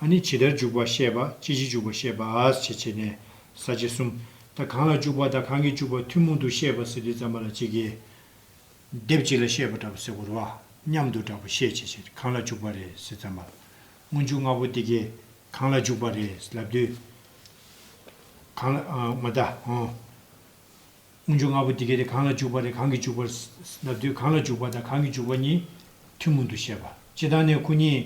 ཨ་ནི་ཇི་ལྟར་འཇུག་པར་བཤད་པ་ཅི་བྱེད་འཇུག་པར་བཤད་པ་ཞེས་བྱས་ནས་ས་བཅད་གསུམ། ད་གང་ལ་འཇུག་པ་ད་གང་གིས་འཇུག་པ་ཐུན་མོང་དུ་བཤད་པ་ཟེར་དུས་རྩམ་པ་ལ་གཅིག་གིས། སྡེབ་གཅིག་ལ་བཤད་པ་འདྲ་བ་ཟེར་གོ་རོ། མཉམ་དུ་འདྲ་བ་བཤད་ཅེས་བྱས་ཏེ་གང་ལ་འཇུག་པ་རེད་ཟེར་རྩམ་པ་ལ། སྔོན་འཇུག་ལྔ་པོ་དེ་གས་གང་ལ་འཇུག་པ་རེད་ལབ་དུས། གང་ལ། མ་མཐའ། སྔོན་འཇུག་ལྔ་པོ་འདི་གལ་ཏེ་གང་ལ་འཇུག་པ་རེ་གང་གིས་འཇུག་པར་བསླབ་དུས་གང་ལ་འཇུག་པ་དང་གང་གིས་འཇུག་པ་གཉིས་ཐུན་མོང་དུ་བཤད་པ་སྤྱི་དང་ནས་ཁུ་གཉིས།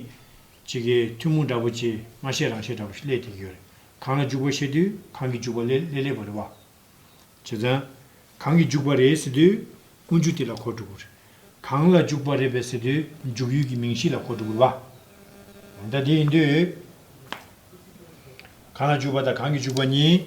ཇི་དགེ་ཐུན་མོང་འདྲ་པོ་ཆེ་མ་ཤེས་རང་ཤེས་འདྲ་པོ་ཞིག་སླད་དེ་ཡོད་རེ་གང་ལ་འཇུག་པ་ཤེས་དུས་གང་གིས་འཇུག་པ་སླད་སླད་པ་རེ་བ། བྱེད་ཙང། གང་གིས་འཇུག་པ་རེད་ཟེར་དུས་སྔོན་འཇུག་དེ་ལ་གོ་དྲུག་རེ། གང་ལ་འཇུག་པ་རེད་པས་ཟེར་དུས་འཇུག་ཡུལ་གྱི་མིང་གཞི་ལ་གོ་དྲུག་རེ་བ། ད་དེ་ཡིན་དུས། གང་ལ་འཇུག་པ་དང་གང་གིས་འཇུག་པ་གཉིས།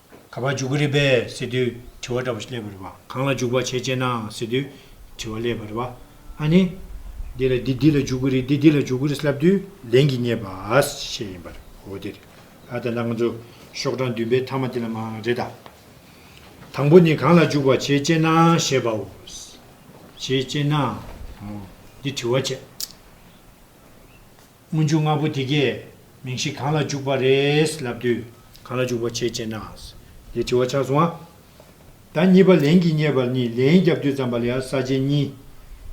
ག་པར་འཇུག་གི་རེད་པས་ཟེར་དུས་དྲི་བ་འདྲ་པོ་ཞིག་སླེབས་པ་རེད་པ། གང་ལ་འཇུག་པར་བྱེད་ཅེ་ནའང་ཟེར་དུས་དྲི་བ་སླེབས་པ་རེད་པ། ཨ་ནི། འདི་ལ་འདི་འདི་ལ་འཇུག་གི་རེད་འདི་འདི་ལ་འཇུག་གི་རེད་ལབ་དུས་ལན་གྱིས་རྙེད་པ་ཞེས་ཡིན་པར་འོ་དེ་རེད། ཨ་དེ་འདྲ་ང་ཚོ་ཤོག་གྲངས་བདུན་པའི་མཐའ་མ་དེ་ལ་མ་རེད་ད། དང་པོ་ནི་གང་ལ་འཇུག་པར་བྱེད་ཅེ་ནའང་ཞེས་པའོ། བྱེད་ཅེ་ནའང་འོ་འདི་དྲི་བ་བྱས། སྔོན་འཇུག་ལྔ་པོ་དེ་གས་མིང་གཞི་གང་ལ་འཇུག་པ་རེད་ལབ་དུས། གང་ལ་འཇུག་པར་བྱེད་ཅེ་ན། ཞེས་དྲི་བ་ཆགས་སོང་ང། ད་གཉིས་པ་ལན་གྱིས་བསྙད་པར་ནི་ལན་བརྒྱ་བསྡུས་ཙམ་པ་ལ་ས་བཅད་གཉིས།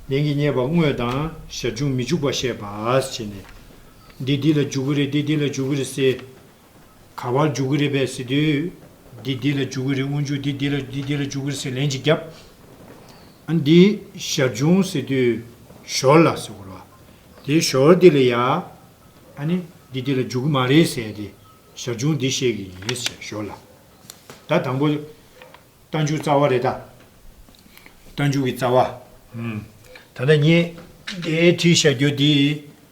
ལན་གྱིས་བསྙད་པ་དངོས་དང་ཞར་བྱུང་མི་འཇུག་པ་བཤད་པ། ཞེས་ནས། འདི་འདི་ལ་འཇུག་གི་རེད་འདི་འདི་ལ་འཇུག་གི་རེད་ཟེར། ག་བར་འཇུག་གི་རེད་པས་ཟེར་དུས། འདི་འདི་ལ་འཇུག་གི་རེད་དབུ་འཇུག་འདི་འདི་ལ་འདི་འདི་ལ་འཇུག་གི་རེད་ཟེར་ལན་གཅིག་བརྒྱབ། འདི་ཞར་བྱུང་ཟེར་དུས། ཞོར་ལ་ཟེར་བར་བ། དེ་ཞོར་འདི་ལ་ཡ། འདི་འདི་ལ་འཇུག་གི་མ་རེད་ཟེར་ཏེ། ཞར་བྱུང་འདི་བཤད་གི་ཡིན་ཟེར་ཞོར་ལ། ད་དང་པོ། རྟ་འཇུག་རྩ་བ་རེད་ད། རྟ་འཇུག་གི་རྩ་བ། ད་ལྟ་ངས་འདིའི་བྲིས་བཞག་རྒྱུ་འདི།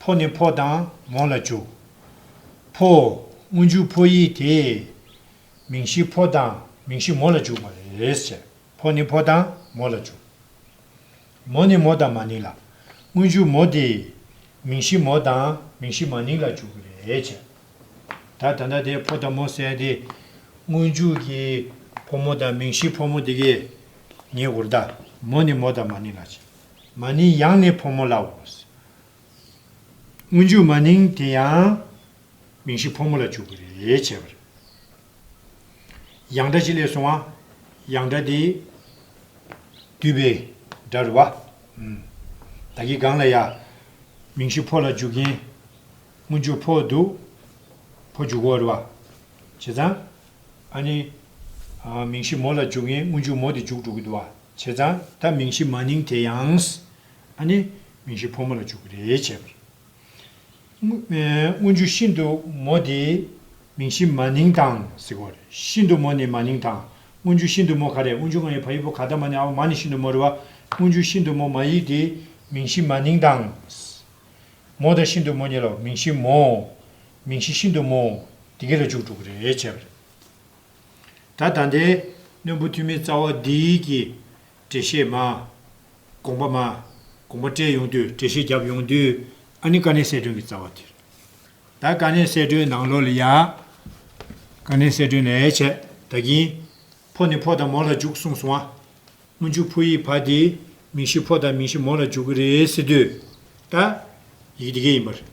ཕོ་ནི་ཕོ་དང་མོ་ལ་འཇུག། ཕོ། སྔོན་འཇུག་ཕོ་ཡིས་དེ། མིང་གཞི་ཕོ་དང་མིང་གཞི་མོ་ལ་འཇུག་པ། རེས་བྱས་ཕོ་ནི་ཕོ་དང་མོ་ལ་འཇུག། མོ་ནི་མོ་དང་མ་ནིང་ལ། སྔོན་འཇུག་མོ་དེ། མིང་གཞི་མོ་དང་མིང་གཞི་མ་ནིང་ལ་འཇུག། རེས་བྱས། ད་ད་ལྟ་དེ་ཕོ་དང་མོ་བསལ་ཏེ། སྔོན་འཇུག་གི། ཕོ་མོ་དང་མིང་གཞི་ཕོ་མོ་དེ་གའི། ཉེ་འུར་ད། མོ་ནི་མོ་དང་མ་ནིང་ལ་བྱས། མ་ནིང་ཡང་ནི་ཕོ་མོ་ལའོ། སྔོན་འཇུག་མ་ནིང་དེ་ཡང། མིང་གཞི་ཕོ་མོ་ལ་འཇུག་པར་རེ་བྱས་པར། ཡང་སྒྲ་ཅི་ལས་སོང་བ། ཡང་སྒྲ་དེ། བསྡུས་པའི་སྒྲ་རུ་བ། ད་གི་གང་ལ་ཡ། མིང་གཞི་ཕོ་ལ་འཇུག་གིན། སྔོན་འཇུག་ཕོ་འདུག། ཕོ་འཇུག་བོ་རུ་བ། བྱས་ཙང། ཨ་ནི། མིང་གཞི་མོ་ལ་འཇུག་གིན་སྔོན་འཇུག་མོ་དེ་འཇུག་འགྲོ་གི་འདུག་བ། བྱས་ཙང། ད་མིང་གཞི་མ་ནིང་དེ་ཡང། ཨ་ནི། མིང་གཞི་ཕོ་མོ་ལ་འཇུག་གི་རེད་བྱས་པ་རེད། སྔོན་འཇུག་ཤིན་ཏུ་མོ་དེ། མིང་གཞི་མ་ནིང་དང་ཟེར་གོ་རེད། ཤིན་ཏུ་མོ་ནི་མ་ནིང་དང། སྔོན་འཇུག་ཤིན་ཏུ་མོ་ག་རེད་སྔོན་འཇུག་ང་ཡི་ཕ་ཡི་བུ་ག་ད་མ་ནི་ཨའོ་མ་ནི་ཤིན་ཏུ་མོ་རེད་བ། སྔོན་འཇུག་ཤིན་ཏུ་མོ་མ་ཡིག་དེ། མིང་གཞི་མ་ནིང་དང། མོ་དང་ཤིན་ཏུ་མོ་གཉིས་ལ་མིང་གཞི་མོ། མིང་གཞི་ཤིན་ཏུ་མོ། དེ་ག་ལ་འཇུག་འགྲོ་གི་རེད་བྱས་པ་རེད། ད་ད་ལྟའི་གནོད་འབུ་ཐུན་མིན་རྩ་བ་འདི་གི། འགྲེལ་བཤད་མ། དགོངས་པ་མ། དགོངས་པ་བཀྲལ་ཡོང་དུས་འགྲེལ་བཤད་བརྒྱབ་ཡོང་དུས་ཨ་ནི་དཀའ་གནད་གསལ་སྒྲོན་གྱི་རྩ་བ་དེ་རེད། ད་དཀའ་གནད་གསལ་སྒྲོན་ནང་ལོགས་ལ་ཡ། དཀའ་གནད་གསལ་སྒྲོན་ནས་ཡ་བྱས་ད་གིན། ཕོ་ནི་ཕོ་དང་མོ་ལ་འཇུག་གསུངས་སོང་ཨ། སྔོན་འཇུག་ཕོ་ཡིས་ཕ་དེ་མིང་གཞི་ཕོ་དང་མིང་གཞི་མོ་ལ་འཇུག་གི་རེད་ཟེར་དུས། ད། ཡི་གེ་དེ་གས་ཡིན་པ་རེད།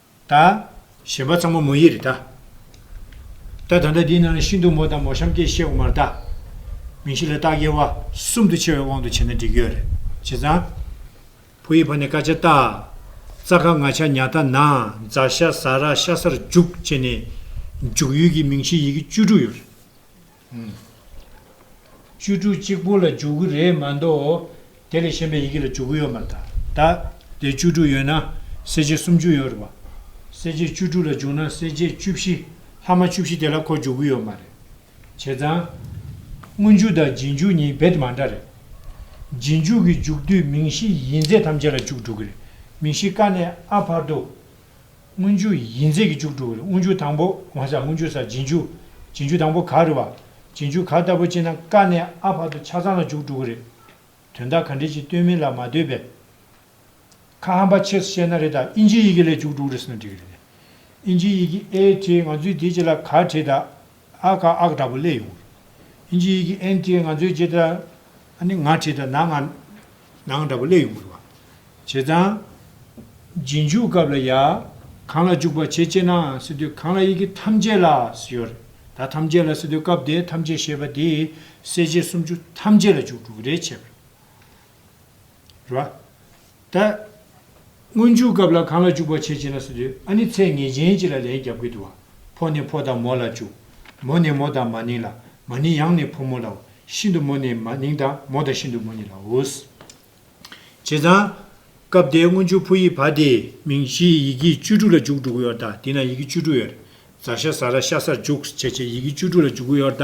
ད། ཞེས་པ་ཚང་མ་མོ་ཡིག་རེད་ད། ད་ད་ལྟ་འདིའི་ནང་ལ་ཤིན་ཏུ་མོ་དང་མོ་གཤམ་སྐྱེས་ཤེས་དབུ་མར་ད། མིང་གཞི་ལ་རྟགས་དབྱེ་བ་གསུམ་དུ་ཕྱེ་བའི་དབང་དུ་བྱས་ན་འགྲིག་ཡོད་རེད། བྱས་ཙང། བུ་ཡི་ཕ་ནི་ཀ་ཆ་རྟ། ཙག་ཁ་ང་ཆ་ཉག་ད་ན་ཛ་ཤ་ཟ་ར་ཤ་སར་འཇུག་བཅས་ནས། འཇུག་ཡུལ་གྱི་མིང་གཞིའི་ཡི་གེ་བཅུ་དྲུག་ཡོད་རེད། བཅུ་དྲུག་གཅིག་པོ་ལ་འཇུག་གི་རེད་མ་མདོག་དེ་ལས་གཞན་པའི་ཡི་གེ་ལ་འཇུག་གི་ཡོད་མ་ད་ད། དེ་བཅུ་དྲུག་ཡོད་ན་གསལ་བྱེད་སུམ་ཅུ་ཡོད་རེད་པ། གསལ་བྱེད་བཅུ་དྲུག་ལ་འཇུག་ན་གསལ་བྱེད་བཅུ་བཞི་ལྷག་མ་བཅུ་བཞི་དེ་ལ་ཁོ་འཇུག་གི་ཡོད་མ་རེད། བྱས་ཙང། སྔོན་འཇུག་དང་རྗེས་འཇུག་གཉིས་རྦད་དེ་མ་འདྲ་རེད། རྗེས་འཇུག་གི་འཇུག་དུས་མིང་གཞི་ཡིན་ཚད་ཐམས་ཅད་ལ་འཇུག་འགྲོ་གི་རེད་མིང་གཞི་ཀ་ནས་ཨ་བར་དུ། སྔོན་འཇུག་ཡིད་མཛེས་ཀྱི་འཇུག་དྲུག་གི་དབུ་འཇུག་དང་པོ་དབང་ས་སྔོན་འཇུག་ས་རྗེས་འཇུག་རྗེས་འཇུག་དང་པོ་ག་རེད་བ། རྗེས་འཇུག་ག་ལྟ་བུ་ཅེ་ན་ཀ་ནས་ཨ་བར་དུ་ཆ་ཚང་ལ་འཇུག་དྲུག་གི་རེད། དོན་དག་ག་འདྲའི་ཅིག་སྟོན་མིན་ལ་མ་ལྟོས་པས། ཁ་ཧམ་པ་ཆེས་སུ་བཤད་ན་རེད་ད་ཨིན་ཇིའི་ཡི་གེ་ལས་འཇུག་དྲུག་རེད་ཟེར་ན་འགྲིག་གི་རེད་ནས། ཨིན་ཇིའི་ཡི་གེ་ཨའི་ཐི་ང་ཚོས་དེ་ཅི་ལ་ག་བྲིས་ད་ཨ་ཀ་ཨག་འདྲ་པོ་ལས་ཡོང་གི་རེད། ཨིན་ཇིའི་ཡི་གེ་ཨན་ཐི་ང་ཚོས་ཇི་ལྟར་ཨ་ནི་ང་བྲིས་ད་ན་ང། ནང་འདྲ་པོ་སླེ་ཡོང་གི་རེད་བ། བྱས་ཙང། རྗེས་འཇུག་སྐབས་ལ་ཡ། གང་ལ་འཇུག་པ་བྱེད་ཅེ་ནའང་སྲིད་དོན་གང་ལ་ཡི་གེ་ཐམས་ཅད་ལ་སྲིད་ཡོད་རེད་ད་ཐམས་ཅད་ལ་སྲིད་དོན་སྐབས་དེ་ཐམས་ཅད་ཞེས་པ་དེས་གསལ་བྱེད་སུམ་ཅུ་ཐམས་ཅད་ལ་འཇུག་འགྲོ་གི་རེད་བྱས་པ་རེད་བ། ད། སྔོན་འཇུག་སྐབས་ལ་གང་ལ་འཇུག་པར་བྱེད་ཅེ་ན་སུ་དུས་ཨ་ནི་ཚད་ངེས་ཅན་གཅིག་ལ་ལན་བརྒྱབ་ཀྱི་འདུག་ཕོ་ནི་ཕོ་དང་མོ་ལ་བཅུག། མོ་ནི་མོ་དང་མ་ནིང་ལ་མ་ནིང་ཡང་ནི་ཕོ་མོ་ལའོ། ཤིན་ཏུ་མོ་ནི་མ་ནིང་དང་མོ་དང་ཤིན་ཏུ་མོ་ནི་ལའོ། བྱས་ཙང། སྐབས་དེའི་སྔོན་འཇུག་ཕོ་ཡིག་བ་དེ། མིང་གཞིའི་ཡི་གེ་བཅུ་དྲུག་ལ་འཇུག་འགྲོ་གི་ཡོད་ད་དེ་ན་ཡི་གེ་བཅུ་དྲུག་ཡོད། རྫ་ཤ་ཟ་ར་ཤ་སར་འཇུག་བྱེད་ཀྱི་ཡི་གེ་བཅུ་དྲུག་ལ་འཇུག་གི་ཡོད་ད་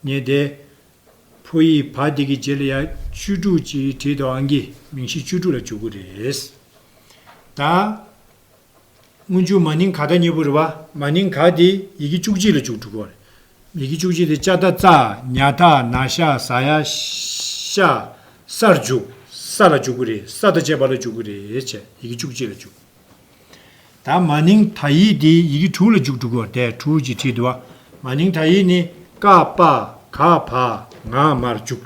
ངེས་ཏེ། ཕོ་ཡིས་བ་དེ་གི་རྗེས་ལ་ཡ་བཅུ་དྲུག་ཅིག་བྲིས་འདུག་ཨང་ཀི་མིང་གཞི་བཅུ་དྲུག་ལ་བཅུ་དགུ་རེད། ད། སྔོན་ཆུ་མ་ནིང་ག་ད་སྙེ་བུ་རེད་བ། མ་ནིང་ག་དེ་ཡི་གེ་བཅུ་གཅིག་ལ་བཅུ་དྲུག་གོ་རེད། ཡི་གེ་བཅུ་གཅིག་དེ་ཅཱ་ཏཱ་ཙ་ཉ་ཐ་ན་ཤ་ཟ་ཡ་ཤ་སར་བཅུག་ས་ལ་བཅུ་དགུ་རེད་ས་དང་བཅས་པ་ལ་བཅུ་དགུ་རེད་བྱས་ཡི་གེ་བཅུ་གཅིག་ལ་བཅུ། ད་མ་ནིང་དག་ཡིག་དེ་ཡི་གེ་དྲུག་ལ་འཇུག་དྲུག་གོ་དེ་དྲུག་ཅེས་བྲིས་འདུག་མ་ནིང་དག་ཡིག་ནི་ཀ་པ་ག་བ་ང་མར་འཇུག།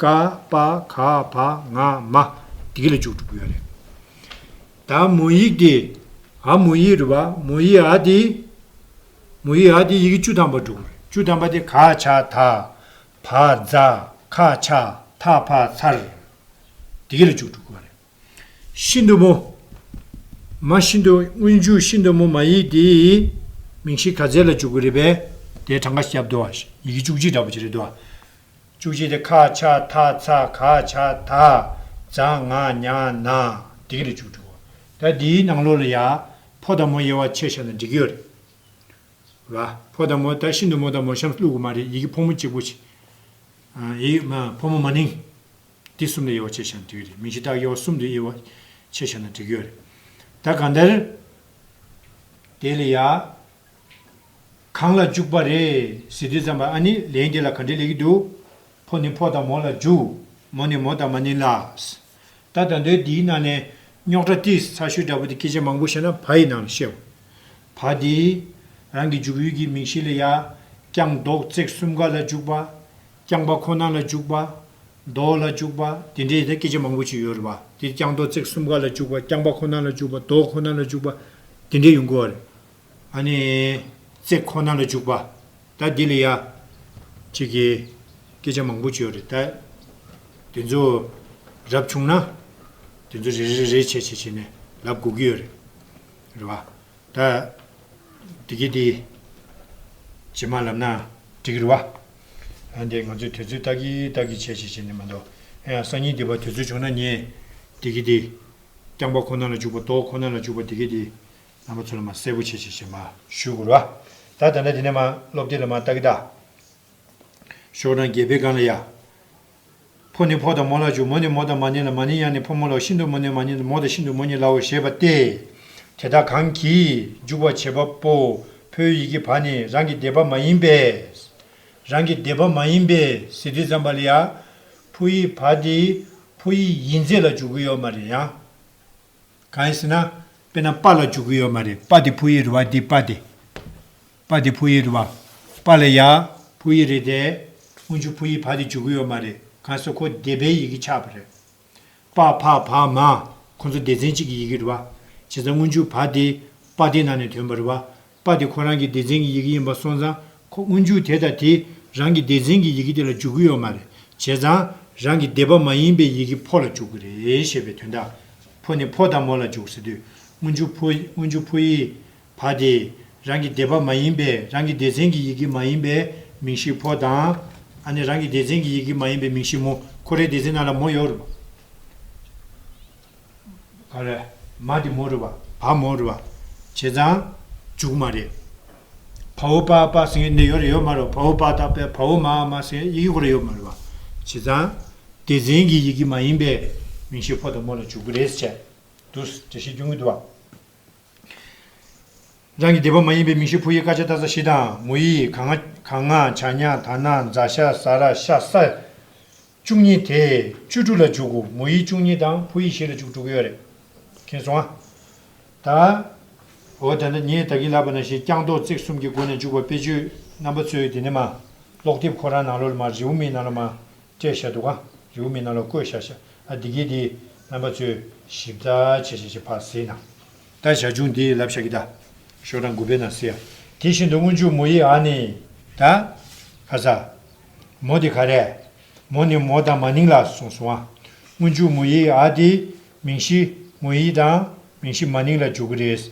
ཀ་པ་ག་བ་ང་མ་དེ་ལ་འཇུག་དྲུག་ཡོད་རེད། ད་མོ་ཡིག་དེ་ཨ་མོ་ཡིག་རེད་བ་མོ་ཡིག་ཨ་དེ་མོ་ཡིག་ཨ་དེ་ཡི་གེ་བཅུ་ཐམ་པ་དྲུག་རེད་བཅུ་ཐམ་པ་དེ་ག་ཆ་ད་བ་ཛ་ཁ་ཆ་ཐ་ཕ་ཚར་དེ་གི་ལ་འཇུག་དྲུག་གོ་རེད། ཤིན་ཏུ་མོ། མ་ཤིན་ཏུ་སྔོན་འཇུག་ཤིན་ཏུ་མོ་མ་ཡིག་དེའི་མིང་གཞི་ག་ཚད་ལ་འཇུག་གི་རེད་པས་དེའི་གྲངས་ཀ་སྐྱབས་འདུ་བ་ཡི་གེ་བཅུ་གཅིག་འདྲ་པོ་ཅིག་རེད་འདུག་བ། བཅུ་གཅིག་དེ་ཁ་ཆ་ཐ་ཚ་ག་ཆ་ད་ཛ་ང་ཉ་ན་དེ་གི་རེ་བཅུ་དྲུག་བ། ད་འདིའི་ནང་ལོགས་ལ་ཡ་ཕོ་དང་མོ་དབྱེ་བ་ཕྱེ་བཞག་ན་འགྲིག་གི་ཡོད་རེད། བ། ཕོ་དང་མོ་ད་ཤིན་ཏུ་མོ་དང་མོ་གཤམ་བསླུག་གི་མ་རེད་ཡི་གེ་ཕོ་མོ་གཅིག་པོ་ཆེ། ཡིག་ཕོ་མོ་མ་ནིང། འདི་གསུམ་ལས་གཡོག་ཆེ་ཞན་དུས་རེད་མིང་གཞི་བཏགས་གཡོག་གསུམ་དུ་གཡོག་ཆེ་ཞན་ན་འགྲིག་ཡོད་རེད་ད་གང་ལྟར། དེ་ལ་ཡ། གང་ལ་འཇུག་པ་རེད་ཟེར་དུས་ཙམ་པ་ཨ་ནི་ལན་འདི་ལ་ག་འདྲི་ལེགས་ཀྱི་འདུག་ཕོ་ནི་ཕོ་དང་མོ་ལ་འཇུག་མོ་ནི་མོ་དང་མ་ནི་ལགས། ད་ད་འདོད་འདིའི་ནང་ནས་རྙོག་དྲ་ཏིས་ཚ་ཤུལ་འདྲ་པོ་དེ་སྐད་ཆ་མང་པོ་བཤད་ན་བ་ཡི་ནང་ལ་ཤེས། བ་དེས་རང་གི་འཇུག་ཡུལ་གྱི་མིང་གཞི་ལ་ཡ། རྐྱང་ཟློག་བརྩེགས་གསུམ་ག་ལ་འཇུག་པ། རྐྱང་པ་ཁོ་ན་ལ་འཇུག་པ། རྡོ་ལ་འཇུག་པ། དེ་འདྲའི་ཡི་གེ་སྐད་ཆ་མང་པོ་ཞིག་ཡོད་རེད་བ། འདིར་རྐྱང་རྡོ་བརྩེགས་གསུམ་ཀ་ལ་འཇུག་པ་རྐྱང་པ་ཁོ་ན་ལ་འཇུག་པ་རྡོ་ཁོ་ན་ལ་འཇུག་པ། དེ་འདྲའི་ཡོང་གི་བ་རེད། ཨ་ནི། བརྩེགས་ཁོ་ན་ལ་འཇུག་པ། ད་འདི་ལ་ཡ། ཅིག་གི། སྐད་ཆ་མང་པོ་ཅིག་ཡོད་རེད་ད། དེ་ཚོ། རབ་བྱུང་ན། དེ་ཚོ་རེ་རེ་རེ་བྱས་བྱས་བྱས་ནས་ལབ་དགོས་ཀྱི་ཡོད་རེད། རེད་བ། ད། འདི་གི་འདི། ཇི་མ་ལབ་ན། འགྲིག་རེད་བ། ཨ་འདི་ང་ཚོས་དུས་ཚོད་ལྟ་གི་ལྟ་གི་བྱས་བྱས་བྱས་ནས་མ་འདོ་ཨ་ཡང་སང་ཉིན་འདི་བར་དུས་ཚོད་བྱུང་ན་ངས་འདི་གི་འདི། རྐྱང་པ་ཁོ་ན་ལ་འཇུག་པ་ལྟོ་ཁོ་ན་ལ་འཇུག་པ་འདི་གི་འདི། རྣམ་པ་ཚོ་ལ་མ་གསལ་པོ་བྱས་བྱས་བྱས་མ་ཞུས་གུ་རུ་ཨ། ད་ད་ནས་དེ་ནས་མ་སློབ་དེབ་ལ་མ་ལྟ་གི་ལྟ། ཤོག་གྲངས་བརྒྱད་པའི་སྒང་ལ་ཡ། ཕོ་ནི་ཕོ་དང་མོ་ལ་བྱུག་མོ་ནི་མོ་དང་མ་ནི་ལ་མ་ནི་ཡང་ནི་ཕོ་མོ་ལའོ་ཤིན་ཏུ་མོ་ནི་མ་ནི་ལ་མོ་དང་ཤིན་ཏུ་མོ་ནི་ལའོ་ཞེས་པ་སྟེ། དེ་དག་གང་གིས་འཇུག་པར་བྱེད་པ་པོ་ཕོའི་ཡི་གེ་བ་ནི་རང་གི་སྡེ་པ་མ་ཡིན་པས། རང་གི་སྡེ་པ་མ་ཡིན་པའི་ཟེར་དྲི་ཙམ་པ་ལ་ཡང་ཕོ་ཡི་བ་དེ་ཕོ་ཡི་ཡིན་ཚད་ལ་འཇུག་གི་ཡོད་མ་རེད་ཡང། གང་ཡིན་ཟེར་ན། དཔེར་ན་པ་ལ་འཇུག་གི་ཡོད་མ་རེད་པ་དེ་ཕོ་ཡི་རུ་བ་དེ་པ་སྟེ། པ་དེ་བྷུ་ཡི་རུ་བ། པ་ལ་ཡ། བྷུ་ཡི་རེད་དེ། སྔོན་ཆུ་བྷུ་ཡི་བྷ་དེ་འཇུག་གི་ཡོད་མ་རེད་ག་སོ་ཁོ་སྡེ་པའི་ཡི་གེ་ཆགས་པ་རེད། པ་ཕ་བྷ་མ། ཁོ་ཚོ་སྡེ་ཚན་གཅིག་གི་ཡི་གེ་རུ་བ། བྱས་ཙང་སྔོན་ཆུ་བྷ་དེ། པ་དེ་ནང་ནས་ཐོན་པ་རུ་བ། པ་དེ་ཁོ་རང་གི་སྡེ་ཚན་གི་ཡི་གེ་ཡིན་པ་སོང་ཙང་ཁོ་སྔོན་ཆུ་དེ་དང་དེ་རང་གི་སྡེ་ཚན་གི་ཡི་གེ་དེ་ལ་འཇུག་གི་ཡོད་མ་རེད་བྱས་ཙང་རང་གི་སྡེ་པ་མ་ཡིན་པའི་ཡི་གེ་ཕོ་ལ་འཇུག་གི་རེད་ཞེས་པའི་དོན་དང། ཕོ་ནི་ཕོ་དང་མོ་ལ་འཇུག་ཟེར་དུས་སྔོན་ཆུ་བྷུ་སྔོན་ཆུ་བྷུ་ཡི། བ་སྟེ། རང་གི་སྡེ་པ་མ་ཡིན་པས་རང་གི་སྡེ་ཚན་གྱི་ཡི་གེ་མ་ཡིན་པའི་མིང་གཞི་ཕོ་དང། ཨ་ནི་རང་གི་སྡེ་ཚན་གྱི་ཡི་གེ་མ་ཡིན་པའི་མིང་གཞི་མོ་ཁོ་རའི་སྡེ་ཚན་ནང་ལ་མོ་ཡོད་རུང། གང་རེད། མ་དེ་མོ་རེད་བ། བ་མོ་རེད་བ། བྱས་ཙང། འཇུག་མ་རེད། བ་བོ་པ་པ་ཟེར་མཁན་འདི་ཡོད་རེད་ཡོད་མ་རེད་བ། བ་བོ་པ་དག་པས་བ་བོ་མ་མ་ཟེར་མཁན་ཡི་གེ་ཁོ་ར་ཡོད་མ་རེད་བ། བྱས་ཙང། སྡེ་ཚན་གྱི་ཡི་གེ་མ་ཡིན་པའི་མིང་གཞི་ཕོ་དང་མོ་ལ་འཇུག་གི་རེད་ཟེར་བྱས། འདུག། འདྲ་བཤད་སྐྱོན་གྱི་འདུག་བ། རང་གི་སྡེ་པ་མ་ཡིན་པའི་མིང་ཤོད་ཕུ་ཡི་དཀར་ཆ་བཏགས་ས་གཞི་དང་མོ་ཡི་གངས་ང་བྱ་ཉག་ད་ནག་མཛའ་ཤ་ཟ་ར་ཤ་ས་བཅུ་གཉིས་དེ་བཅུ་དྲུག་ལ་བཅུག་གོ་མོ་ཡི་བཅུ་གཉིས་དང་ཕུ་ཡི་བཞི་ལ་བཅུག་དྲུག་གི་ཡོད་རེད་མཁྱེན་སོང་ཨ། ད། འོ་ད་ནི་ངས་ད་གིན་ལབ་པ་ན་ཞེས་རྐྱང་རྡོག་བརྩེགས་གསུམ་གྱི་སྒོ་ནས་བཅུག་པ་དཔེ་བརྗོད་རྣམ་པ་ཚོས་དེ་ནི་མ། ཀློག་དེབ་ཁོ་རང་ནང་ལོགས་ལ་མ་རེའུ་མིག་ནང་ལ་མ། སྤྲད་བཞག་འདུག་གང་རེ་བུ་མེད་རྣམས་ལ་བསྐོས་བཞག་བཞག་ཨ་འདི་གིས་འདི། རྣམ་པ་ཚོས། ཞིབ་བརྡ་བྱས་བྱས་བྱས་ཕར་ཟེར་ནང། བརྡ་བཞག་ཅུང་དེ་ལབ་བཞག་གི་བརྡ། ཤོག་གྲངས་དགུ་པའི་ནང་ཟེར། དེ་བཞིན་དུ་སྔོན་འཇུག་མོ་ཡིས་ཨ་ནི། ད། ཁ་ཟ། མོ་དེ་ག་རེད། མོ་ནི་མོ་དང་མ་ནིང་ལ་སོང་སོང་ཨ། སྔོན་འཇུག་མོ་ཡིས་ཨ་དེ། མིང་གཞི། མོ་ཡིས་དང། མིང་གཞི་མ་ནིང་ལ་འཇུག་གི་རེད།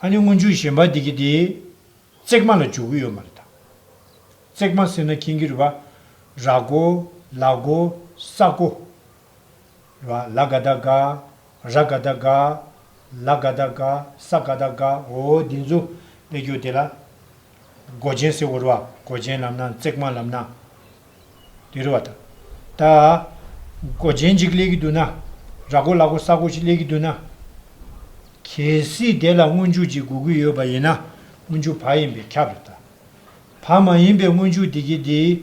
ཨ་ནི་སྔོན་ཆུ་ཞེན་པ་འདི་གི་དེ། བརྩེགས་མ་ལ་འཇུག་གི་ཡོད་མ་རེད་དམ། བརྩེགས་མ་ཟེར་ན་ཁྱེད་ཀྱི་རེད་པ། ར་གོ། ལ་གོ། ས་གོ། རེད་པ། ལ་ག་ད་ག། ར་ག་ད་ག། ལ་ག་ད་ག། ས་ག་ད་ག། འོ་འདི་ཚོ་དཔེ་འགྱུར་དེ་ལ། གོ་ཆེན་ཟེར་བོ་རེད་པ། གོ་ཆེན་ལབ་ན་བརྩེགས་མ་ལབ་ན། དེ་རུ་བ་དང། ད། སྒོ་ཆེན་གཅིག་གླེགས་ཀྱི་འདུག་ན། ར་སྒོ་ལག་སྒོ་ས་སྒོ་གཅིག་གླེགས་ཀྱི་འདུག་ན། གལ་སྲིད་དེ་ལ་སྔོན་འཇུག་ཅིག་དགོས་ཀྱི་ཡོད་པ་ཡིན་ན་སྔོན་འཇུག་བག་ཡིན་པས་ཁྱབ་རེ་ད། བག་མ་ཡིན་པའི་སྔོན་འཇུག་དེ་གི་དེ།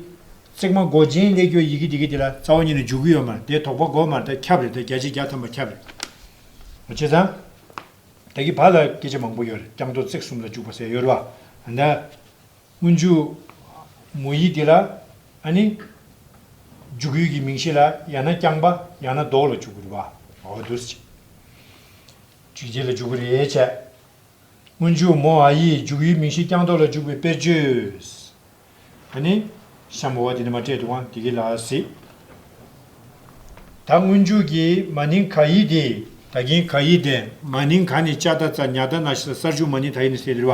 ཚེག་མ་སྒོ་ཆེན་གླེགས་ཀྱོ་ཡི་གི་དེ་གི་དེ་ལ་རྩ་བ་ཉིད་ནས་འཇུག་གི་ཡོད་མར་དེ་དོགས་པ་སྒོ་མར་ད་ཁྱབ་རེ་ད་བརྒྱ་ཆའི་བརྒྱ་ཐམ་པ་ཁྱབ་རེ། བྱས་ཙང། ད་གི་བག་ལ་སྐད་ཆ་མང་པོ་ཡོད་རེ་རྐྱང་དོགས་ཚེག་གསུམ་ལ་འཇུག་པ་ཟེར་ཡོད་རུ་བ་ད། སྔོན་འཇུག། མོ་ཡིག་འདི་ལ་ཨ་ནི། འཇུག་ཡུལ་གྱི་མིང་གཞི་ལ་ཡང་ན་རྐྱང་པ་ཡང་ན་ལྡོག་ལ་འཇུག་དགོས་པ་འོ་དུར་བྱས། འཇུག་འཇིག་ལ་འཇུག་གི་རེད་བྱས། སྔོན་འཇུག་མོ་ཨ་ཡིག་འཇུག་ཡུལ་མིང་གཞི་རྐྱང་ལྡོག་ལ་འཇུག་པའི་དཔེར་བརྗོད། ཨ་ནི། ཤམ་བྷ་བ་འདི་ནི་མ་སྤྲད་འདུག་ཨང་འདི་གི་ལ་སི། ད་སྔོན་འཇུག་གི་མ་ནིང་ག་ཡིག་དེ་ད་གིན་ག་ཡིག་དེ། མ་ནིང་ག་ནི་ལྕགས་རྟ་རྩ་ཉག་རྟ་ན་ཤི་ས་སར་འཇུག་མ་ནིང་ད་ཡིག་ནི་སེ་དིར་བ་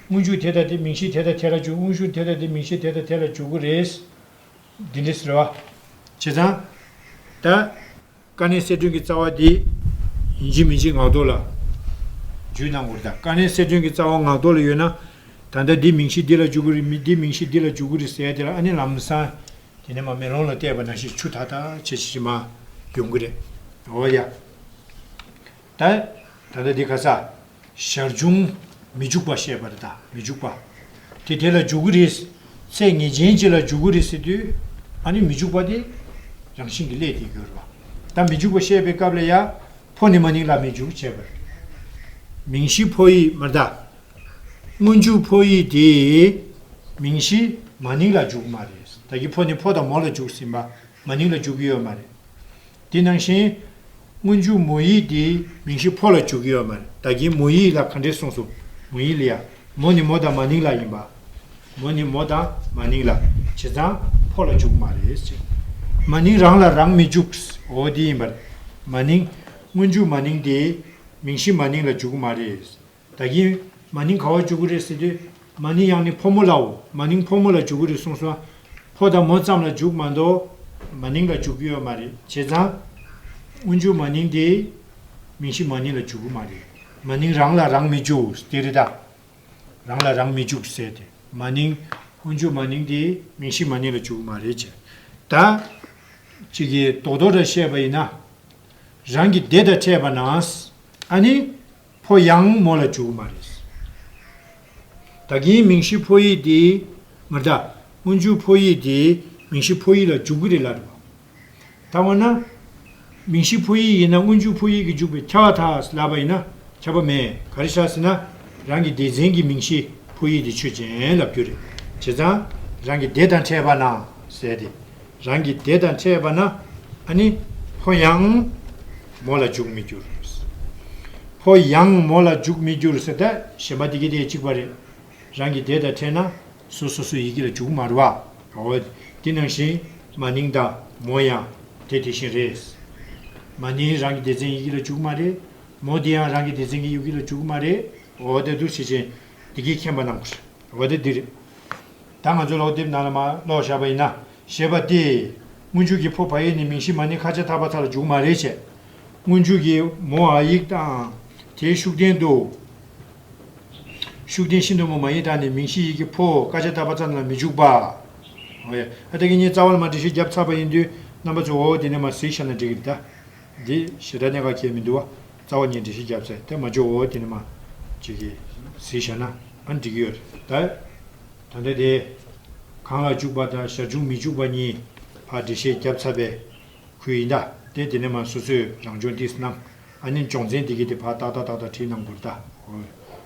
དངོས་འཇུག་དེ་དང་དེ་མིང་གཞི་དེ་དང་དེ་ལ་འཇུག་དངོས་གཞུང་དེ་དང་དེ་མིང་གཞི་དེ་དང་དེ་ལ་འཇུག་གོ་རེས། འདི་འདྲའི་ཟེར་བ། བྱས་ཙང། ད། ཀ་ནས་གསལ་སྒྲོན་གྱི་རྩ་བ་འདི། ཡིན་གཅིག་མིན་གཅིག་ངག་ཐོག་ལ། རྒྱུད་གནང་གོ། ད་ཀ་ནས་གསལ་སྒྲོན་གྱི་རྩ་བ་ངག་ཐོག་ལ་ཡོད་ན། ད་ལྟ་འདི་མིང་གཞི་འདི་ལ་འཇུག་གོ་རེ་མི་འདི་མིང་གཞི་འདི་ལ་འཇུག་གོ་རེ་ཟེར་དེ་ལ་ཨ་ནི་ལམ་སང། དེ་ནས་མ་མེ་ལོང་ལ་བལྟས་པ་ན་ཤེས་ཆུ་ཐག་ཐག་ཆད་ཆད་ཆད་མ། ཡོང་གི་རེད། འོ་ཡ། ད་ལྟ་དེ་ག་ས། ཞར་བྱུང། མི་འཇུག་པ་བཤད་པ་རེད་ད་མི་འཇུག་པ། དེ་དེ་ལ་འཇུག་གི་རེད། ཚད་ངེས་ཅན་གཅིག་ལ་འཇུག་གི་རེད་ཟེར་དུས། ཨ་ནི་མི་འཇུག་པ་དེ། རང་བཞིན་གྱི་སླད་དེ་ཡོད་རེད་པ། ད་མི་འཇུག་པ་བཤད་པའི་སྐབས་ལ་ཡ། ཕོ་ནི་མ་ནིང་ལ་མི་འཇུག་བྱེད་པ་རེད། མིང་གཞི་ཕོ་ཡིག་མ་ད། སྔོན་འཇུག་ཕོ་ཡིག་དེ། མིང་གཞི། མ་ནིང་ལ་འཇུག་གི་མ་རེད། ད་ཀྱི་ཕོ་ནི་ཕོ་དང་མོ་ལ་འཇུག་ཟིན་པ། མ་ནིང་ལ་འཇུག་གི་ཡོད་མ་རེད། དེ་ནང་བཞིན། སྔོན་འཇུག་མོ་ཡིག་དེ། མིང་གཞི་ཕོ་ལ་བཅུག་གི་ཡོད་མ་རེད་བདག་གིས་མོ་ཡིག་ལ་ག་འདྲས་གསུངས་སོང། མོ་ཡིག་ལ་ཡ། མོ་ནི་མོ་དང་མ་ནིང་ལ་ཡིན་པ། མོ་ནི་མོ་དང་མ་ནིང་ལ། བྱས་ཙང་ཕོ་ལ་བཅུག་མ་རེད་ཟེར། མ་ནིང་རང་ལ་རང་མི་བཅུག། འོ་དེ་ཡིན་པ་རེད། མ་ནིང། སྔོན་འཇུག་མ་ནིང་དེ། མིང་གཞི་མ་ནིང་ལ་བཅུག་གི་མ་རེད། ད་གིན། མ་ནིང་ག་བ་བཅུག་གི་རེད་ཟེར་དུས། མ་ནིང་ཡག་ནི་ཕོ་མོ་ལའོ། མ་ནིང་ཕོ་མོ་ལ་བཅུག་གི་རེད་གསུངས་སོང། ཕོ་དང་མོ་ཙམ་ལ་བཅུག་མ་འདུག། མ་ནིང་ལ་བཅུག་གི་ཡོད་མ་རེད་བྱས་ཙང། དབུ་འཇུག་མ་ནིང་དེ། མིང་གཞི་མ་ནིང་ལ་བཅུག་གི་མ་རེད། མ་ནིང་རང་ལ་རང་མི་བཅུག་དེ་རེད་ད། རང་ལ་རང་མི་བཅུག་ཟེར་དེ། མ་ནིང། དབུ་འཇུག་མ་ནིང་དེ། མིང་གཞི་མ་ནིང་ལ་བཅུག་གི་མ་རེད་བྱས། ད། ཅིག་གིས་རྡོག་རྡོག་འདྲ་བཤད་པ་ཡིན་ན། རང་གི་སྡེ་དང་འཕྲད་པ་ན། ཨ་ནི། ཕོ་ཡང་མོ་ལ་འཇུག་མ་རེད། ད་གིན་མིང་གཞི་ཕོ་ཡིག་དེ། མ་མཐའ་སྔོན་འཇུག་ཕོ་ཡིག་དེ་མིང་གཞི་ཕོ་ཡིག་ལ་འཇུག་གི་རེད་ལབ་པ། ད་འོ་ན། མིང་གཞི་ཕོ་ཡིག་ཡིན་ན་སྔོན་འཇུག་ཕོ་ཡིག་གི་འཇུག་པའི་ཁྱབ་བ་དག་ལབ་པ་ཡིན་ན་ཁྱབ་པ་མེད་ག་རེ་བྱ་ཟེར་ན། རང་གི་སྡེ་ཚན་གྱི་མིང་གཞི་ཕོ་ཡིག་དེ་ཆོས་ཅན་ལབ་རྒྱུ་རེད། བྱས་ཙང་རང་གི་སྡེ་དང་ཕྲད་པ་ན་ཟེར་ཏེ། རང་གི་སྡེ་དང་ཕྲད་པ་ན་ནི། ཕོ་ཡང། མོ་ལ་འཇུག་མི་འགྱུར། ཕོ་ཡང་མོ་ལ་འཇུག་མི་འགྱུར་ཟེར་ད་གཞན་པ་དེ་གི་དེ་གཅིག་པ་རེད། རང་གི་སྡེ་དང་ཕྲད་ན། སོ་སོ་སོའི་ཡི་གེ་ལ་འཇུག་མ་རུ་བ། འོ། དེ་ནང་བཞིན། མ་ནིང་དང། མོ་ཡང། དེ་དེ་བཞིན་རེད། མ་ནིང་རང་གི་སྡེ་ཚན་ཡི་གེ་ལ་འཇུག་མ་རེད། མོ་དེ་ཡང་རང་གི་སྡེ་ཚན་གི་ཡུ་གེ་ལ་འཇུག་མ་རེད། འོ་ད་འདུག་བྱེད་ཅན། དེ་གིས་མཁྱེན་པ་རྣམས། འོ་ད་འདི་རེད། ད་ང་ཚོའི་ལོག་དེབ་ནང་ལ་མ་ཀློག་བཞག་པ་ཡིན་ན་ཞེས་པ་སྟེ། སྔོན་འཇུག་གི་ཕོ་བྷ་ཡིག་ནི་མིང་གཞི་མ་ནི་ཁ་ཆེ་ཐ་བ་ཐ་ལ་འཇུག་མ་རེ་བྱས། སྔོན་འཇུག་གི་མོ་ཨ་ཡིག་དང་དེའི་ཤུགས་ལྡན་དུ། ཤུགས་ལྡན་ཤིན་ཏུ་མོ་མ་ཡིག་དག་ནི་མིང་གཞི་ཡིག་གི་ཕོ་ཀ་ཆེ་ཐ་བ་ཙམ་ལ་མི་འཇུག་པ། ཨ་ཐ་གི་གཉིས་རྩ་བ་ལ་མ་འབྲི་ཞེས་རྒྱབ་ཚགས་པ་ཡིན་དུས་རྣམ་པ་ཚོས་འོ་འོ་དེ་ནས་མ་གཟིགས་ཤ་ན་འགྲིག་གི་རེད་ད། འདི་ཞེ་དྲག་གཉེན་ག་ཁྱེད་མི་འདུག་བ། རྩ་བ་ཉིད་འདྲི་ཞིག་བརྒྱབ་ཚེ་དེ་མ་འཇོག་འོ་དེ་ནི་མ། ཅིག་གིས། ཟིག་བྱས་ན་ཨ་འགྲིག་གི་ཡོད་རེད་ད། ད་འདི་དེ། གང་ལ་འཇུག་པ་དང་ཞར་བྱུང་མི་འཇུག་པ་གཉིས། བར་འདྲི་ཞེ་བརྒྱབ་ཚར་པའི། ཁུལ་ཡིན་ད། དེ་དེ་ནི་མ་སོ་སོས་རང་སྦྱོང་ཏིས་གནང། ཨ་ནི་འཇོག་མཚན་འདི་གི་དེ་བར་ཏག་ཏག་ཏག་ཏག་བྲིས་གནང་དགོས་རེད་ད།